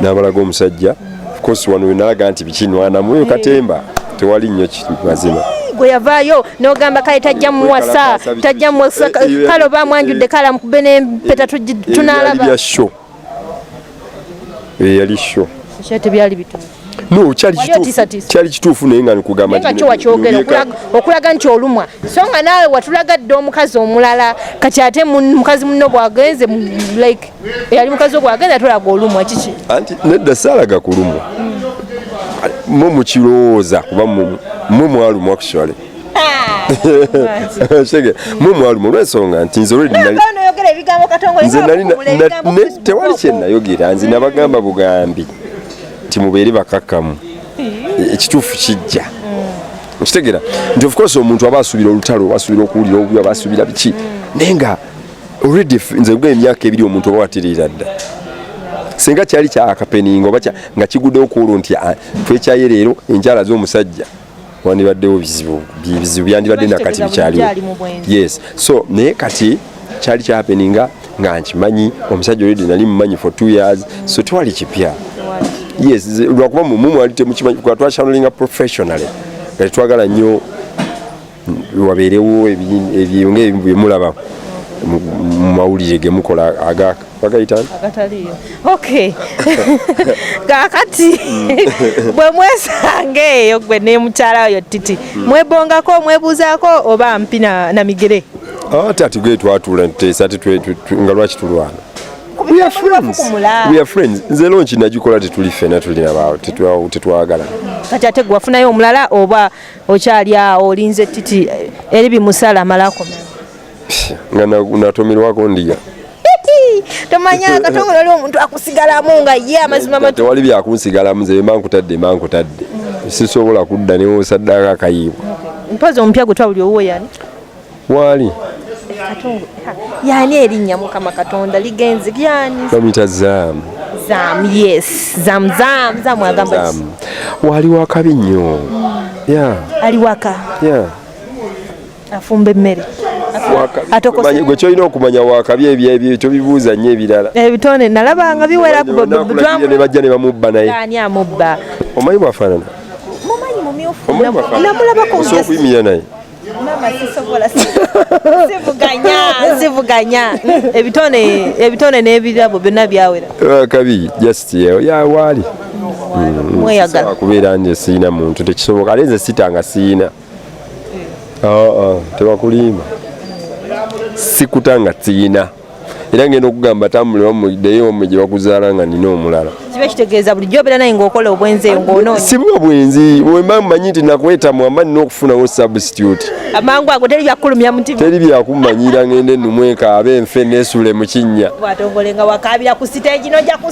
nabalaga omusajja ofcourse wano wenalaga nti bikinwanamu eyo katemba tewali nnyo mazima gwe yavaayo nogamba kale tajja muwasa tajja muwasa kale oba mwanjudde kale amukube nempeta tunalaba eyali sho tebyali bituufu no kyali kituufu naye nga nkugambaokulaga nti olumwa so nga naawe watulaga dde omukazi omulala kati ate mukazi muno bwagenze like eyali mukazi obwagenze atulaga olumwa kiki anti nedda saalaga kulumwa mwe mukirowooza kuba mwe mwalumwa kushwale shege mu mwalumu olw'ensonga nti nze tewali kyenayogera nze nabagamba bugambi nti mubeere bakakkamu e, ekituufu kijja mm. okitegera nti ofcourse omuntu aba asuubira olutalo aba asuubira okuwulira obubi aba asuubira biki naye nga already nze gwe emyaka ebiri omuntu oba watereera dda singa kyali kyakapeninga oba nga kigudde okuulu nti ah, twekyayeleero enkyala z'omusajja wandibaddewo bizibu bizibu byandibadde nakati bikyaliwo yes so naye kati kyali kyapeninga nga nkimanyi omusajja oledi nali mumanyi for two years so tewali kipya yes lwakuba mumumu ali temukimanyi kuba twakyandolinga professionally kati twagala nnyo wabeerewo ebyonga ebimu byemulaba mu mawulire gemukola agaka bagayitani agataliyo okay kakati mm. bwe mwesanga eyo gwe ne mukyala oyo titi mm. mwebongako mwebuuzaako oba mpi na migere ah, tati gwe twatula nteesa ti nga lwaki tulwana nze lonki nagikola tetuli fena tulina bawo tetwagala kati ate gwe wafunayo omulala oba okyali awo olinze titi eri bimusala amalako nga natomerwako ndiga tomanya katongole oli omuntu akusigalamu nga ye amazima matu tewali byakunsigalamu nze bemba nkutadde mba nkutadde sisobola kudda newosaddaako akayiibwa mpozi omupya gwe twawuli owuwo yani waali yani erinnya mukama katonda ligenzi yani bamuyita zaamu zaamu yes zaamu zaamu zaamu agamba waali wakabi nnyo ya ali waka ya afumba emmere gwe kyolina okumanya wakabi ebyebyo tobibuuza nnyo ebirala ebitonde eh, nalabanga biwerakubajja ne bamubba naye ani amubba omanyi bwafaanana namulabakokuyimira naye sivuganya ebitone n'ebirabo byonna byawera wakabi just yawaali mm, mm, mweyagala kubeera nze siina muntu tekisoboka ate nze sitanga siina aa tebakulimba sikuta nga tiyina era ngenda okugamba tambule wamudeyo wamwe gye bakuzaala nga nina omulala kiba kitegeeza bulijjo obeera naye ngaokola obwenzi eyo ngaono sibuba bwenzi wemba mumanyi nti nakwetamu amba nina okufunawo substitute amangu ago teri byakulumya mutima teri byakumanyira ngende numwekaabe nfe nesule mu kinnya bwatongole nga wakaabira ku siteegi noja ku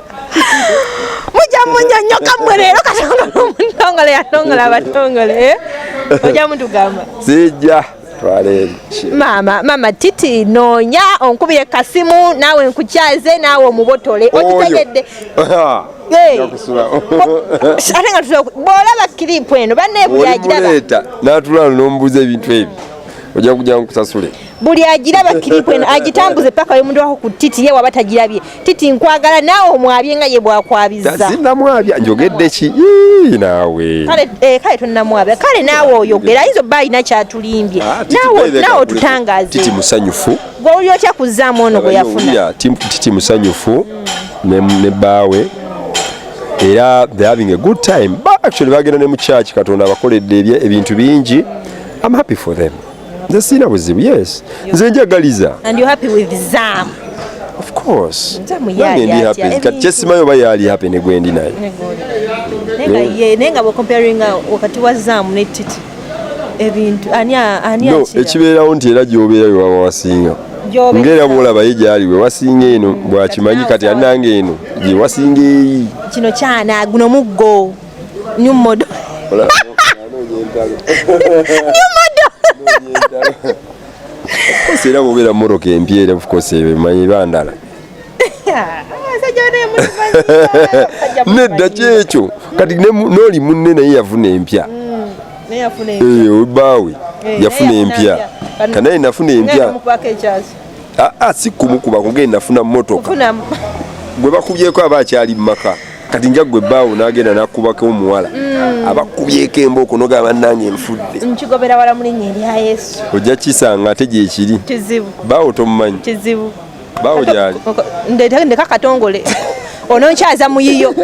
mujja munyonyoka mwe leero katonda nomutongole yatongola abatongole eh? ojja mutugamba sijja maama maama titi noonya onkubire kasimu naawe nkukyaze naawe omubotole okitegedde ate nga bwolaba kiripu eno banebuyagiraba natulala nomubuuza ebintu ebyo ojja kujja nkusasule buli agiraba kiripu eno agitambuze paka oyo muntu wako ku titi ye waba tagirabye titi nkwagala naawe omwabye nga ye bwakwabizanamwabya njogedde ki naawe kale eh, tonamwabya kale naawe oyogera ayinza oba alina kyatulimbye ah, naawe otutangaze musanyufu gwe oli otya kuzaamu ono gwe yafuna titi musanyufu ne baawe era the having a good time actually bagenda ne mu church katonda abakoledde ebintu bingi i'm happy for them nze sirina buzibu yes nze njagaliza and you're happy with zam of course nange ndi happy kati kyesimayo oba yaali happy ne gwendi naye naye nga bwecomparinga wakati wa zam ne titi ebintu ani ani no ekibeerawo nti era gyobeera yewaba wasinga ngera bwolaba ye gyali we wasinga eno bwakimanyi kati anange eno gye wasinga eyi kino kyana guno muggo New model. New model. Sera bubira moroke empiere of course emanyi bandala. Nedda kyekyo kati n'oli munne naye yafuna empya mm, baawe eh, yafuna empya kanaye nafuna empya ah, ah, si kumukuba kugenda nafuna motoka gwe bakubyeko aba akyali mu maka kati nja gwe baawo n'agenda n'akubako omuwala mm. abakubyeko embooko noga bannange enfudde nkigobera wala mu linnya erya yesu ojja kisanga ate gyekiri kizibu baawo tomumanyi kizibu baawo gyali ndeka katongole ononkyaza muyiyo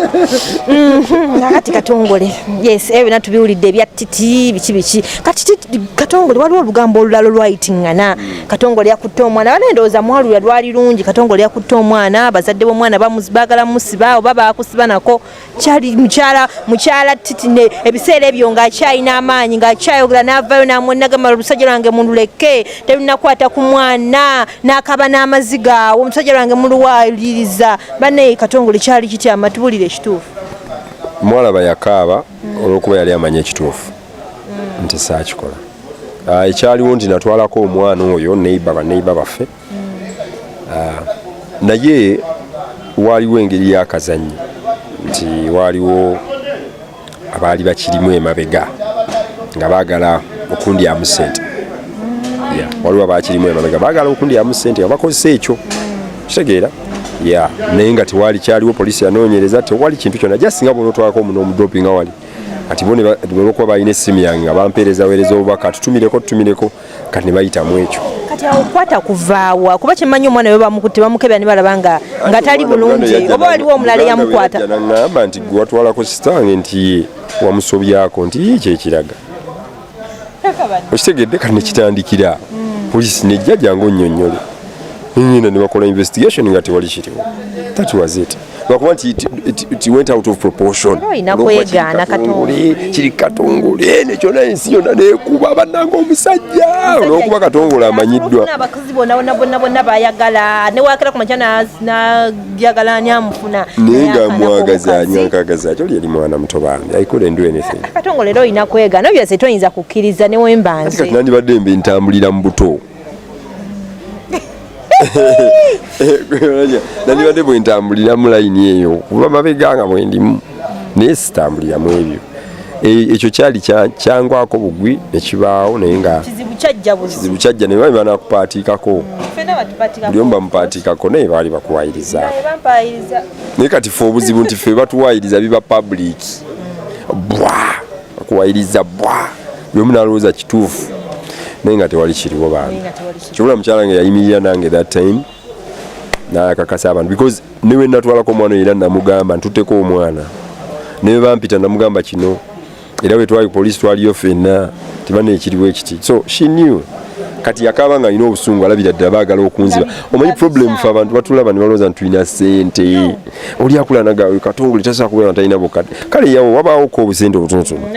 mm-hmm. nakati katongole yes ebyo byona tubiwulidde ebya titi biki biki kati katongole waliwo olugambo olulala olwayitingana katongole yakutte omwana bana endowooza mwalulya lwali lungi katongole yakutte omwana abazadde b'omwana bagala musiba oba bakusiba nako kyali mukyala mukyala titine ebiseera ebyo ng'akyalina amaanyi ng'akyayogera n'avaayo n'amwenagamba olusajja lwange mululeke terunakwata ku mwana n'akaba n'amaziga awo omusajja lwange muluwaliriza banaye katongole kyali kitya amatubulire ekituufu mwalaba yakaaba olw'okuba yali amanya ekituufu nti saakikola ah, ekyaliwo nti natwalako omwana oyo neiba baneiba baffe ah, naye waaliwo engeri yakazanyi nti waaliwo abaali bakirimu emabega nga baagala okundyamu sente waliwo abakirimu emabega baagala okundyamu sente nga bakozesa ekyo kitegeera ya naye nga tewali kyaliwo poliisi yanoonyereza tewali kintu kyona jasi nga bwonotwalako omuno omudopinga wali kati bo olwokuba balina essimu yange nga bampeereza weereza obubaka tutumireko tutumireko kati ne bayitamu ekyo kati awo kwata kuvaawa kuba kyemanyi omwana we bamukutte bamukebera ne balaba nga nga tali bulungi oba waliwo omulala eyamukwata naŋŋamba nti gwe watwalako sitange nti wamusobyako nti kyekiraga okitegedde kati nekitandikira mm. poliisi nejjaja nga onyonyole nyina nebakola investigation nga tewali kiriwo that was it lwakuba nti it went out of proportion kiri katongole nekyona ensi yona nekuba bananga omusajja olwokuba katongole amanyiddwa njagala ani amufuna naye nga mwagaza ani ankagaza ati oli yali mwana muto bambi i couldn't do anything akatongo leero olina kwega no byose toyinza kukkiriza ne wembanze kati nandibadde mbe ntambulira mu buto nandibadde bwentambulira mu layini eyo kuba mabega nga bwendimu naye sitambulira mu ebyo e, ekyo kyali kyangwako bugwi nekibaawo naye nga kizibu kyajja naye bali banakupaatiikako buli omu bamupaatiikako naye baali bakuwayiriza naye kati fe obuzibu nti fe batuwayiriza biba public bwa bakuwayiriza bwa buli omu nalowooza kituufu naye nga tewali kiriwo bantu kibula mukyala nga yayimirira nange that time nakakasa abantu because newe natwalako omwana era namugamba ntuteko omwana naye bampita namugamba kino era wetwali polisi twaliyo fenna tebana ekiriwo ekiti so she knew kati yakaba nga alina obusungu alabira ddala baagala okunziba omanyi problem fe abantu batulaba ne balowooza ntulina sente oli akulanaga katongole tasobola kubeera talina bukadde kale yawo wabaawoko obusente obutonotono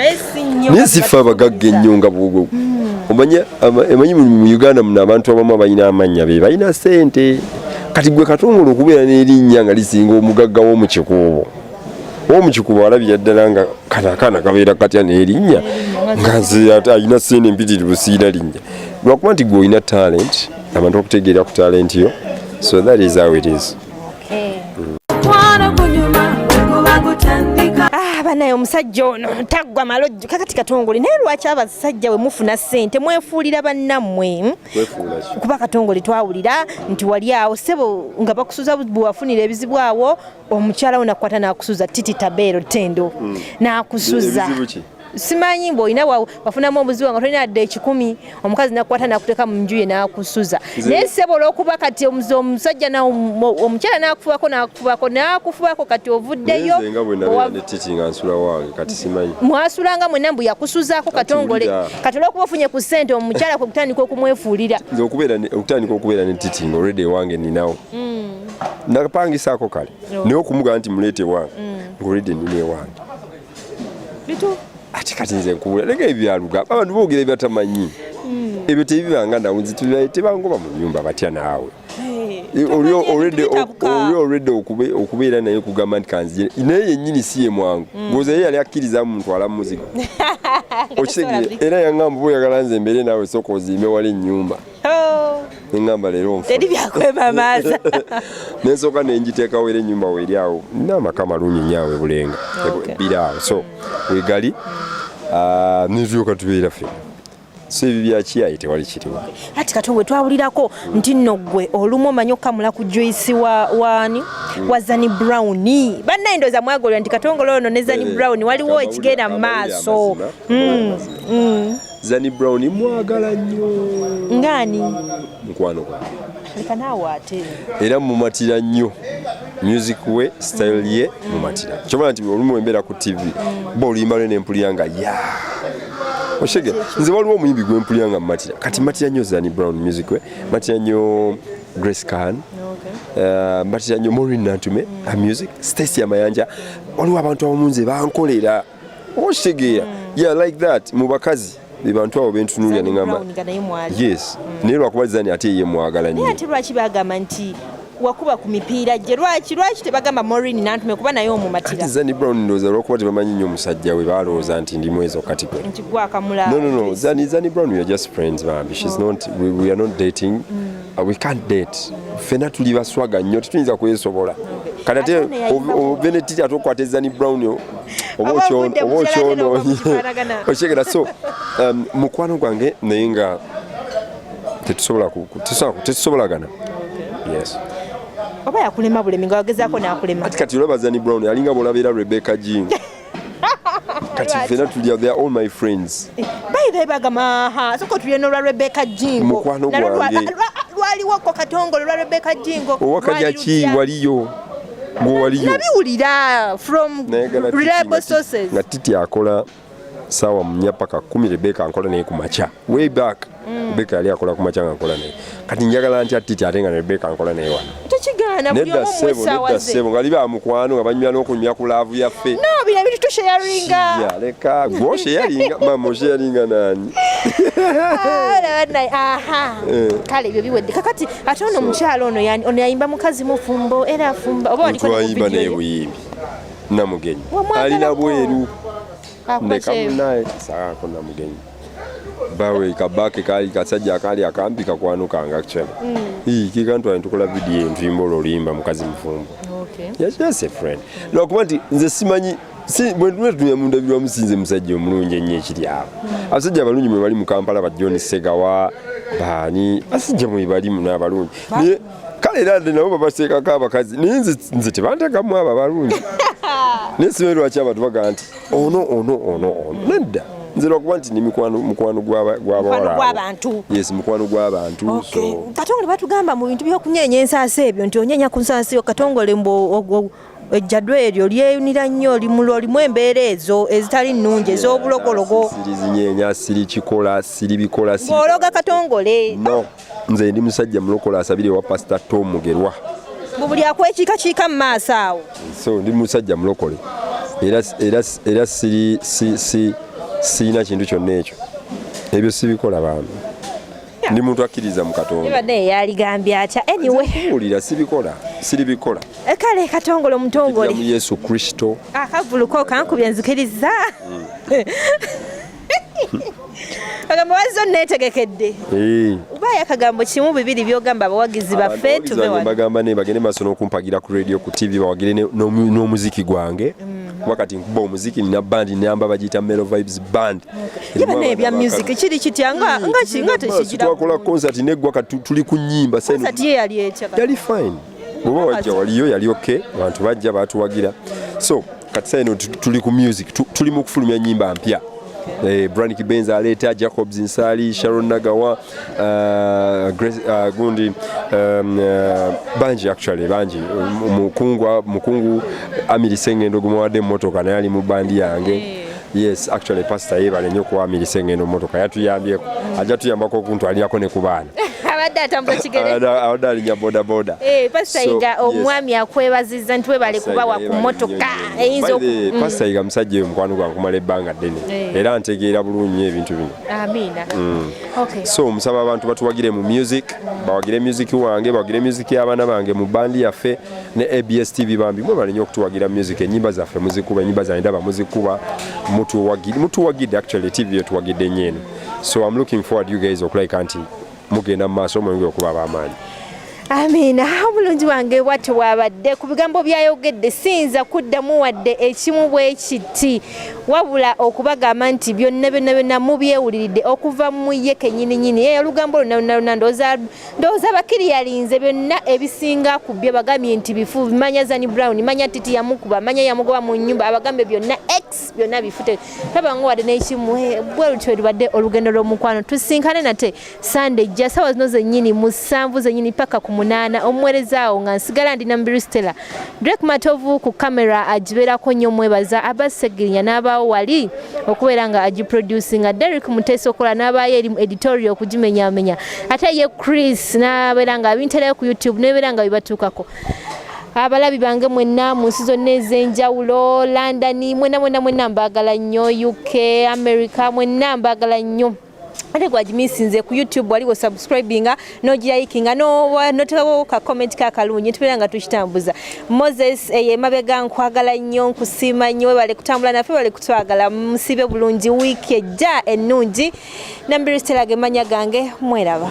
naye sifa abagagga ennyo nga bwogo hmm. omanya emanyi mu uganda muno abantu abamu abalina amannya be balina sente kati gwe katongole okubeera n'erinnya nga lisinga omugagga w'omukikuubo w'omukikuubo alabira ddala nga kano akaana kabeera katya n'erinnya nga nze alina sente mpitirivu siina linnya lwakuba nti gwe olina talenti abantu bakutegeera ku talenti yo so that is how it is okay. mm. Ah, banaye omusajja ono taggwa malojjo kakati katongole naye lwaki abasajja we mufuna ssente mwefuulira bannammwe hmm? kuba katongole twawulira nti wali awo sebo nga bakusuza bwewafunira ebizibu awo omukyala wo nakukwata nakusuza titi tabeero tendo hmm. nakusuza simanyi mbu olina wafunamu obuzibu nga tolina adde ekikumi omukazi nakukwata nakuteeka mu nju ye nakusuza naye sebo olwokuba kati omusajja omukyala nakufubako nakufubako nakufubako kati ovuddeyo mwasulanga mwena mbu yakusuzako katongole kati olwokuba ofunye ku sente omukyala okutandika okumwefuulira okutandika okubeera ne titinga olwedde ewange ninawo mm. napangisako kale oh. naye okumugamba nti muleete ewange mm. ngaolwedde nina ewange bitu ati kati nze nkubula naga ebyaluga abantu boogera ebyatamanyi hmm. ebyo tebibanga nawe nze tebangoba mu nyumba batya naawe oli olwedde okubeera naye kugamba nti kanzije naye yennyini si ye mwangu mm. goza ye yali akkiriza muntu ala muzigo okitegere era yangamba oba oyagala nze mbeere naawe sooka ozimbe wala ennyumba oh. nengamba leero nfu teri byakwemamaaza nensooka nenjiteekawo era ennyumba weeri awo nina amaka malungi nyawe bulenga biri awo so wegali ah, nezuuka tubeera ffe so ebyo byakiyaye tewali kiriwo ati kati we twawulirako nti nno gwe olumu omanyi okukamula ku juisi wa waani hmm. wa zani brown bannaye ndooza mwagolera nti katongole ono ne zani eh, brown waliwo ekigenda mu maaso hmm, hmm. Zani Brown mwagala nnyo. Ngani? Mukwano gwange. Leka naawe ate. Era mumatira nnyo music we style ye mumatira. Kyobala nti olumu embeera ku TV bo oluyimba lwe nempulira nga ya oshege nze waliwo omuyimbi gwe mpulira nga mumatira kati matira nnyo Zani Brown music we matira nnyo Grace Khan uh, matira nnyo Maureen Nantume mm. her music Stacy Amayanja waliwo abantu abamu nze bankolera okitegeera mm. yeah like that mu bakazi bebantu abo bentunuulira neŋamba yes mm. naye lwakuba zani ate ye mwagala nyo ate lwaki bagamba nti wakuba ku mipiira gye lwaki lwaki tebagamba morin nantume kuba naye omumatira zani brown ndowooza lwakuba tebamanyi nnyo omusajja we balowooza nti ndi mwezo katigwe nti gwakamula no no no zani zani brown we are just friends bambi she's oh. not we, we are not dating mm. uh, we can't date mm. fena tuli baswaga nnyo tetuyinza kwesobola okay. kanate ovenetiti atokwatezani brown oba okyonoonye okyegera so um, mukwano gwange naye nga tetusobolagana yes oba yakulema bulemi nga wagezaako nakulema ati kati olaba zani brown alinga bwolabeera rebecca g kati fena tulya they are all my friends eh, bayibe bagama ha soko tulya nolwa rebecca jingo mukwano gwange lwaliwo ko katongole lwa rebecca jingo owakajaki waliyo nabiwulira from reliable sources nga titi akola sawa munya paka kumi rebeka nkola naye kumakya way back mm. rebeka yali akola kumakya nga nkola naye kati njagala ntya titi ate nga rebeka nkola naye wano nedda sebo nedda sebo nga liba mukwano nga banywa n'okunywa ku laavu yaffe sheyaringa leka gwo sheyaringa mama sheyaringa nani ah, eh. kale ebyo biwedde kakati ate ono omukyalo ono ono yayimba mukazi mufumbo era afumba oba waliayimba naye buyimbi namugenyi alina bweru ndeka munaye saako namugenyi bawe kabake kali kasajja akali akambi kakwanukanga kyana mm. kikantu ali tukola vidiyo envimba olwolimba mukazi mufumbo okay. yes, yes, a friend lwakuba nti nze simanyi si bwentume tutuye mundabirwa musinze musajja omulungi ennyo ekiri awo abasajja abalungi mwebali mu kampala ba john segawa baani basajja mwebalimu n'abalungi naye kale era nde nabo babaseekako abakazi naye nze tebantekamu abo abalungi naye simanyi lwaki abantu bagamba nti ono ono ono ono nedda nze lwakuba nti ni mukwano mukwano gwabantu yes mukwano gwabantu katongole batugamba mu bintu byokunyenya ensaasi ebyo nti onyenya ku nsaasi yo katongole mbu ejjadwa eryo lyeyunira nnyo limulo limu embeera ezo ezitali nnungi ez'obulogologo sirizinyenya siri kikola siri bikola ologa katongole no nze ndi musajja mulokola asabire ewa pasita tom mugerwa mu buli akwekiikakiika mu maaso awo so ndi musajja mulokole era sirina kintu kyonna ekyo ebyo sibikola bantu ndi muntu akkiriza mu katonda ibadde yaligambye atya anyway wulira sibikola siribikola eh, kale katongole omutongole mu yesu kristo akavuluko ah, kankubye nzikiriza mm. kagambo wazzo netegekedde eh. ubaayo akagambo kimu bibiri byogamba abawagizi baffe tubebagamba ne bagende maaso n'okumpagira ku radio ku tv bawagire n'omuziki gwange mm. kuba kati nkuba omuziki nina band namba bagiyita melo vibes band yebana ebya music kiri kitya nga nga kinga tekigira twakola concert neggwa kati tuli ku nyimba sasa concert ye yali ekya yali fine bwoba wajja waliyo yali okay abantu bajja batuwagira so kati sasa eno tuli ku music tuli mu kufulumya nyimba mpya eh, Branick Benz aleeta Jacobs Nsali Sharon Nagawa Uh, Grace, uh, gundi um, uh, bangi actually bangi mukungu mukungu amiri sengendo gumuwadde mmotoka naye ali mu bandi yange hey. yes actually pastor yebale nyo kuwamilisa engendo motoka yatuyambyeko mm. ajja tuyambako okuntwalirako ne ku baana abadde atambula kigere abadde alinya bodaboda eh, pastor yiga omwami akwebaziza nti webale kubawa ku motoka eyinza pastor yiga musajja oyo mukwano gwankumala ebbanga ddene eh. era ntegeera bulungi ebintu bino Amina. Mm. Okay. So musaba abantu batuwagire mu music, bawagire music wange, bawagire music y'abaana bange mu bandi yaffe ne ABS TV bambi. Mwe balinyo okutuwagira music enyimba zaffe muzikuba, enyimba za ndaba muzikuba, mutuwagire, mutuwagire actually TV yetuwagidde nyeno. So I'm looking forward you guys okulike anti mugenda mu maaso mweyongere okuba ab'amaanyi amiina omulungi wange watyo wabadde ku bigambo byayogedde siyinza kuddamu wadde ekimu bwe kiti wabula okubagamba nti byonna byonna byonna mubyewuliridde okuva mu ye kenyininyini eyo olugambo lwonna lwonna lwonna ndowooza bakiri yalinze byonna ebisinga ku byo bagambye nti bifu manya zani brown manya titi yamukuba manya yamugoba mu nyumba abagambye byonna byonna bifute tabangu wadde nekimu eh, bwe lutyo lubadde olugendo lw'omukwano tusinkane nate sande jja sawa zino zennyini musanvu zennyini paka ku munaana omuwerezaawo nga nsigala ndi nambiru stella drek matovu ku kamera agibeerako nnyo omwebaza abasegirinya n'abaawo wali okubeera nga agiproducinga derek muteesi okola n'abaayo erimu editorio okugimenyamenya ate ye chris n'abeera nga abinterayo ku youtube nebeera nga bibatuukako abalabi bange mwenna mu nsi zonna ez'enjawulo london mwena mwena mwena mbagala nnyo uk america mwenna mbagala nnyo ate gwagimisinze ku youtube wali wosubscribinga nogirayikinga notekawo ka comment kakalungi tubeera nga tukitambuza moses eh, emabega nkwagala nnyo nkusiima nnyo webale kutambula nafe bale kutwagala musibe bulungi wiiki ejja ennungi nambiri stelaga emanya gange mweraba